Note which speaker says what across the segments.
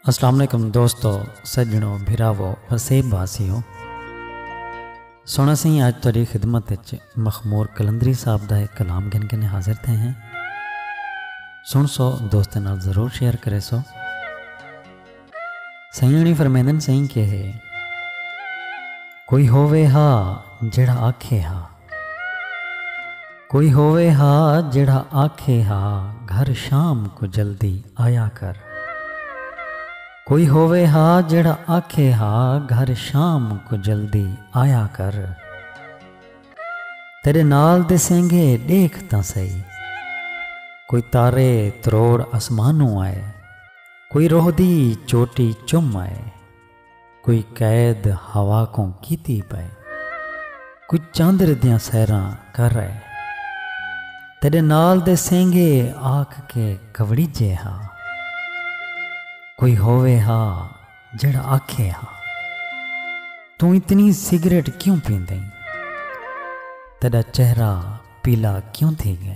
Speaker 1: السلام علیکم دوستو سجنوں بھراو وسیب واسیوں سونا سی آج تاری خدمت اچ مخمور کلندری صاحب دا ایک کلام گن گن حاضر تھے ہیں سن سو دوستوں نال ضرور شیئر کرے سو سئیں ہݨیں فرمیندن سئیں کہ کوئی ہووے ہا جیڑھا آکھے ہا کوئی ہووے ہا جیڑھا آکھے ہا گھر شام کوں جلدی آیا کر کوئی ہووے ہا جیڑھا آکھے ہا گھر شام کوں جلدی آیا کر تیڈے نال دے سینگھے ݙیکھ تاں سہی کوئی تارے تروڑ اسمانوں آئے۔ کوئی روہ دی چوٹی چم آئے۔ کوئی قید ہوا کوں کیتی پئے۔ کوئی چاندر دیاں سیراں کر آئے۔ تیڈے نال دے سینگھے آکھ کے کھوڑیجے ہا۔ کوئی ہووے ہا جیڑھا آکھے ہا۔ توں اتنی سگریٹ کیوں پیندیں؟ تیڈا چہرہ پیلا کیوں تھی گئے؟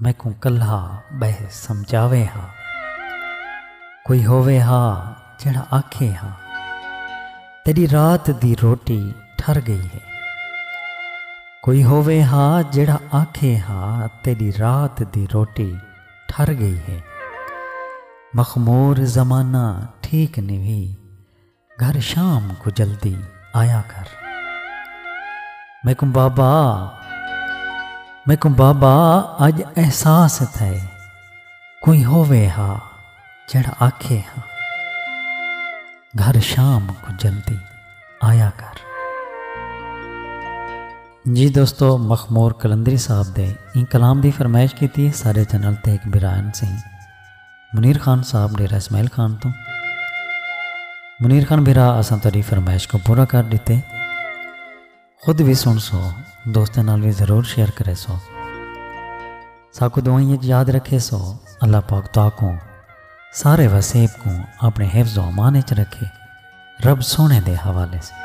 Speaker 1: میکوں کلھا ٻہہ سمجھاوے ہا۔ کوئی ہووے ہا جیڑھا آکھے ہا۔ تیݙی رات دی روٹی ٹھر ڳئی ہے۔ کوئی ہووے ہا جیڑھا آکھے ہا تیݙی رات دی روٹی ٹھر ڳئی ہے۔ مخمور زمانہ ٹھیک نوی۔ گھر شام کوں جلدی آیا کر۔ میکوں بابا میکوں بابا اج احساس تھئے کوئی ہووے ہا جیڑھا آکھے ہا گھر شام کوں جلدی آیا کر۔ جی دوستو مخمور کلندری صاحب دے این کلام دی فرمائش کیتی سارے چینل تے ہک برائن سیں منیر خان صاحب ڈیرہ اسماعیل خان توں۔ منیر خان بھرا اساں تہاڈی فرمائش کوں پورا کر ڈتے۔ خود وی سن سو دوستاں نال وی ضرور شیئر کرے سو۔ ساکوں دعائیں اچ یاد رکھے سو۔ اللہ پاک تہاکوں سارے وسیب کوں اپنے حفظ و امان اچ رکھے۔ رب سوہنے دے حوالے سوں۔